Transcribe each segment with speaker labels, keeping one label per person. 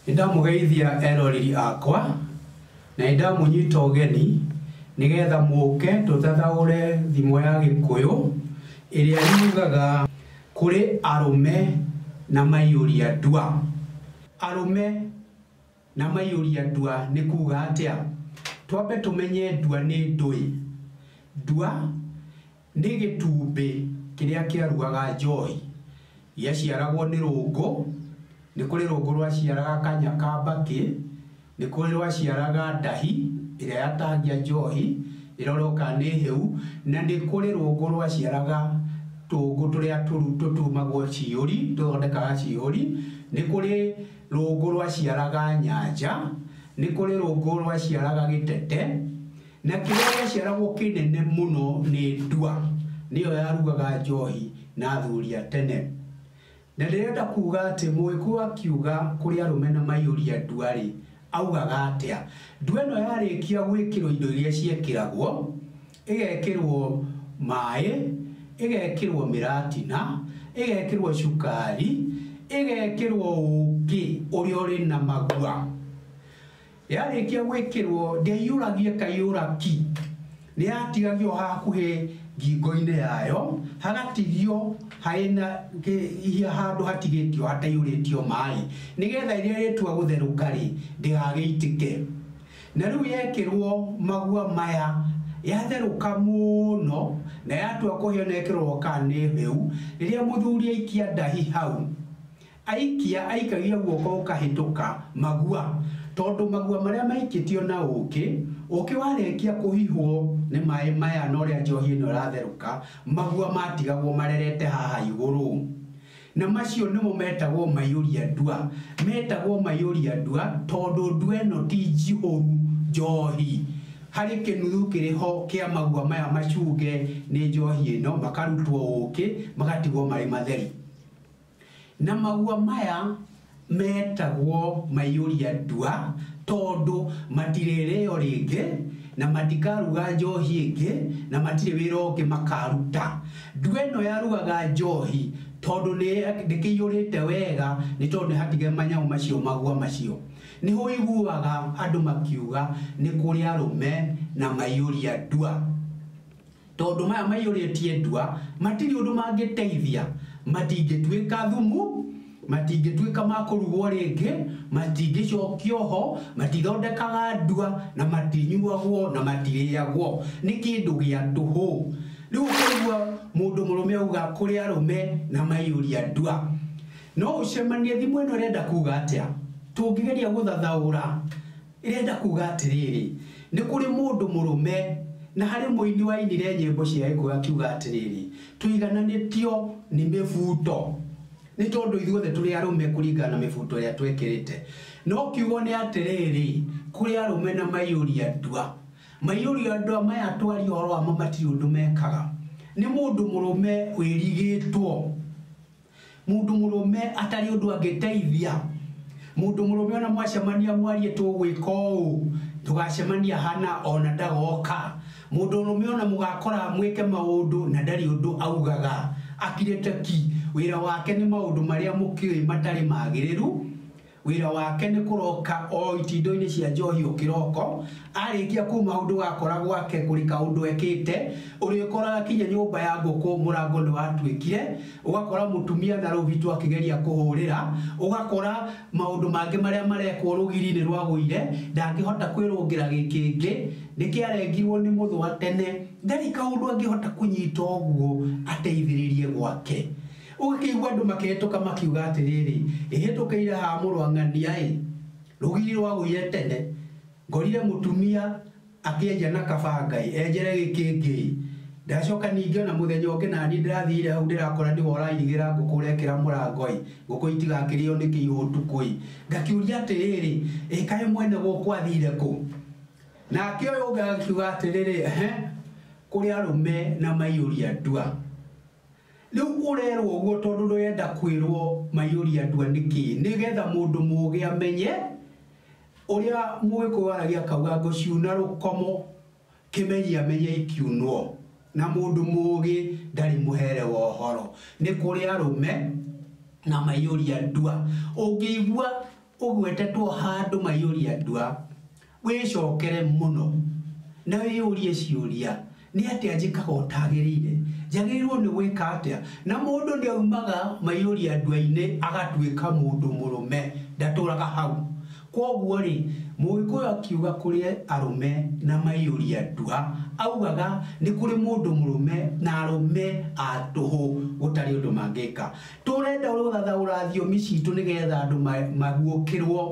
Speaker 1: nĩndamũgeithia eroreri akwa na nĩndamũnyita ũgeni nĩgetha mũke tũthathaũre thimo ya gĩkũyũ ĩrĩa yugaga kũrĩ arũme na maiyũria ndua arũme Na maiyũria ndua nĩ kuuga atĩa? Twambe tũmenye ndua nĩ ndũĩ. Ndua nĩ gĩtumbĩ kĩrĩa kĩaruaga njohi. Gĩaciaragwo nĩ rũngũ, nĩ kũrĩ rũngũ rwaciaraga kanya ka mbakĩ, nĩ kũrĩ rwaciaraga ndahi ĩrĩa yatahagia njohi ĩrorwo kana nĩ hĩu, na nĩ kũrĩ rũngũ rwaciaraga tũngũ tũrĩa tũtumagwo ciihũri, tũthondekaga ciihũri. Nĩ kũrĩ Rũũngũ rwaciaraga nyanja, nĩ kũrĩ rũũngũ rwaciaraga gĩtete, na kĩrĩa gĩaciaragwo kĩnene mũno nĩ ndua, nĩyo yarugaga njoohi na athuri a tene. Na ndĩrenda kuuga atĩ Mũgĩkũyũ akiuga kũrĩ arũme na maiyũria ndua-rĩ, augaga atĩa? Ndua ĩno yarĩkia gwĩkĩrwo indo iria ciekĩragwo, ĩgekĩrwo maĩ, ĩgekĩrwo mĩratina, ĩgekĩrwo cukari, ĩgekĩrwo ũkĩ ũrĩa ũrĩ na magua. Yarĩkia gwĩkĩrwo ndĩaiyũragia ĩkaiyũra ki, nĩ yatigagio hakuhĩ ngingo-inĩ yayo hagatigio harĩ na handũ hatigĩtio hataihũrĩtio maĩ, nĩgetha rĩrĩa rĩatua gũtherũka-rĩ ndĩgagĩitĩke. Na rĩu yekĩrwo magua maya, yatherũka mũno na yatua kũhĩa na ĩkĩrorwo kana nĩ hĩu, rĩrĩa mũthuri aikia ndahi hau, aikia aikagia guoko gũkahĩtũka magua, tondũ magua marĩa maikĩtio na ũkĩ, ũkĩ warĩkia kũhihwo nĩ maĩ maya na ũrĩa njohi ĩno ĩratherũka, magua matigagwo marerete haha igũrũ. Na macio nĩmo metagwo maiyũria ndua. Metagwo maiyũria ndua tondũ ndua ĩno ti njihũru njohi. Harĩ kĩnuthu kĩrĩ ho kĩa magua maya macunge nĩ njohi ĩno, makarutwo ũkĩ, magatigwo marĩ matheri. Na magua maya. Meetagwo maiyũria ndua, tondũ matirĩrĩĩo rĩngĩ, na matikaruga njoohi ĩngĩ, na matirĩ wĩra ũngĩ makaaruta. Ndua ĩno yarugaga njoohi, tondũ nĩ ndĩkĩiyũrĩte wega, nĩ tondũ nĩ hatige manyamũ macio magua macio. Nĩ hũiguaga andũ makiuga, 'Nĩ kũrĩ arũme na maiyũria ndua. Tondũ maya maiyũrĩtie ndwa, matirĩ ũndũ mangĩteithia, matingĩtuĩka thumu, matingĩtuĩka ma kũrugwo rĩngĩ, matingĩcokio ho, matithondekaga ndwa, na matinyuagwo, na matirĩagwo. Nĩ kĩndũ gĩa tũhũ. Rĩu ũkaigua mũndũ mũrũme auga kũrĩ arũme na maiyũria ndwa. No ũcemanie, thimo ĩno ĩrenda kuuga atĩa? Tũngĩgeria gũthathaũra Ĩrenda kuuga atĩrĩrĩ, Nĩ kũrĩ mũndũ mũrũme, na harĩ mũini wainire nyĩmbo cia gĩkũyũ akiuga atĩrĩrĩ, Tũigananĩtio nĩ mĩbuto, nĩ tondũ ithuothe tũrĩ arũme kũringana na mĩbuto ĩrĩa twekĩrĩte. No kiugo nĩ atĩrĩrĩ, kũrĩ arũme na maiyũri a ndua. Maiyũri a ndua maya twaria ũhoro wamo matirĩ ũndũ mekaga. Nĩ mũndũ mũrũme wĩrigĩtwo. Mũndũ mũrũme atarĩ ũndũ angĩteithia mũndũ mũrũme ona mwacemania mwarie tũgwĩka ũũ ndũgacemania hana ona ndagoka mũndũ ũrũme ona mũgakora mwĩke maũndũ na ndarĩ ũndũ augaga akirĩte ki wĩra wake nĩ maũndũ marĩa mũkĩũĩ matarĩ magĩrĩru Wĩra wake nĩ kũroka o itindoinĩ cia njohi o kĩroko, arĩkia kuuma ũndũ ũgakora gwake kũrika ũndũ ekĩte, ũrĩkoraga kinya nyũmba ya ngũkũ mũrango nĩwatuĩkire, ũgakora mũtumia na rũũhi tu akĩgeria kũhũrĩra, ũgakora maũndũ mangĩ marĩa marekwo rũgiri nĩrwagũire, ndangĩhota kwĩrũngĩra gĩkĩngĩ, nĩkĩarengirwo nĩ mũthũa tene, ndarĩ kaũndũ angĩhota kũnyita ũguo ateithĩrĩrie gwake. Ũgakĩigua andũ makĩhĩtũka makiuga atĩrĩrĩ, Ĩhĩtũkĩire haha mũrũ wa ng'ania-ĩ! Rũgiri rwagũire tene, ngorire mũtumia akĩenja na kabanga-ĩ! Enjere gĩkĩngĩ-ĩ! Ndacoka ningĩ o na mũthenya ũngĩ na niĩ ndĩrathire hau ndĩrakora nĩwe ũrairigĩra ngũkũ ũrekĩra mũrango-ĩ! Ngũkũ itigakĩrĩo nĩ kĩihũ ũtukũ-ĩ! Ngakĩũria atĩrĩrĩ, Ĩ kaĩ mwene gũkũ athire kũ? Nake ũyũ ũngĩ agakiuga atĩrĩrĩ, Ehe! Kũrĩ arũme na maiyũria ndua. Rĩu ũrerwo ũguo tondũ ndũrenda kwĩrwo maiyũria ndua nĩkĩ? Nĩ getha mũndũ mũũgĩ amenye ũrĩa Mũgĩkũyũ aragia akauga ngo ciuna rũkomo, kĩmenyi amenye ikiunwo, na mũndũ mũũgĩ ndarĩ mũhere wa ũhoro. Nĩ kũrĩ arũme na maiyũria ndua. Ũngĩigua ũgwetetwo handũ maiyũria ndua, Wĩcokere mũno na wĩyũrie ciũria, 'Nĩ atĩa njĩkaga ũtagĩrĩire? Njagĩrĩirũo nĩ gwĩka atĩa? Na mũndũ ndaumaga maiyũria ndwa-inĩ agatuĩka mũndũ mũrũme. Ndatũũraga hau. Kwoguo-rĩ, Mũgĩkũyũ akiuga kũrĩ arũme na maiyũria ndwa, augaga nĩ kũrĩ mũndũ mũrũme na arũme a tũhũ gũtarĩ ũndũ mangĩka. Tũrenda gũthathaũra thiomi citũ nĩgetha andũ maguũkĩrũo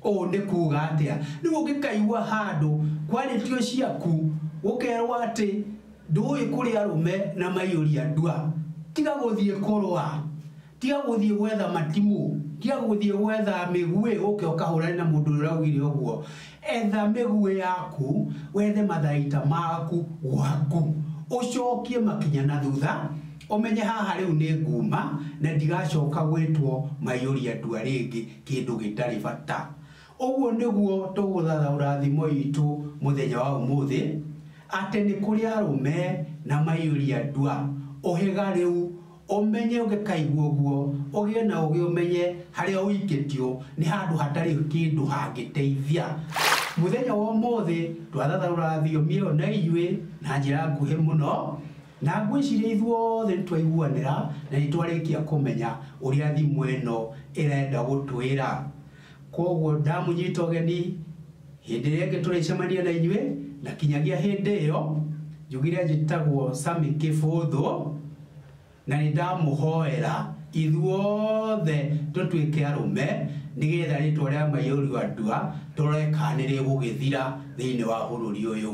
Speaker 1: Ũũ nĩ kuuga atĩa? Rĩu ũngĩkaigua handũ kwarĩtio ciaku, ũkerwo atĩ ndũũĩ kũrĩ arũme na maiyũria ndua, tiga gũthiĩ kũrũa, tiga gũthiĩ gwetha matimũ, tiga gũthiĩ gwetha mĩguĩ ũke ũkahũrane na mũndũ ũrĩa ũraugire ũguo. Etha mĩguĩ yaku, wethe matharaita maku gwaku, ũcokie makinya na thutha, ũmenye haha rĩu nĩ nguuma na ndigacoka gwĩtwo maiyũria ndua rĩngĩ. kĩndũ gĩtarĩ bata. Ũguo nĩguo tũgũthathaũra thimo itũ mũthenya wa ũmũthĩ, atĩ nĩ kũrĩ arũme na maiyũria ndua. Ũhĩga rĩu, ũmenye ũngĩkaigua ũguo, ũgĩe na ũũgĩ ũmenye harĩa ũikĩtio nĩ handũ hatarĩ kĩndũ hangĩteithia. Mũthenya wa ũmũthĩ twathathaũra thiomi ĩyo na inyuĩ na njĩra nguhĩ mũno, Na ngwĩciria ithuothe nĩ twaiguanĩra na nĩ twarĩkia kũmenya ũrĩa thimũ ĩno ĩrenda gũtwĩra. Kwoguo ndamũnyita ũgeni hĩndĩ ĩrĩa ĩngĩ tũrĩcemania na inyuĩ, na kinyagia hĩndĩ ĩyo, njugire njĩtagwo Sammy Kĩbũthũ, na nĩ ndamũhoera ithuothe tũtuĩke arũme nĩgetha rĩtwa rĩa Maiyũrua Ndua tũrore kana nĩ rĩgũgĩthira thĩinĩ wa bũrũri ũyũ.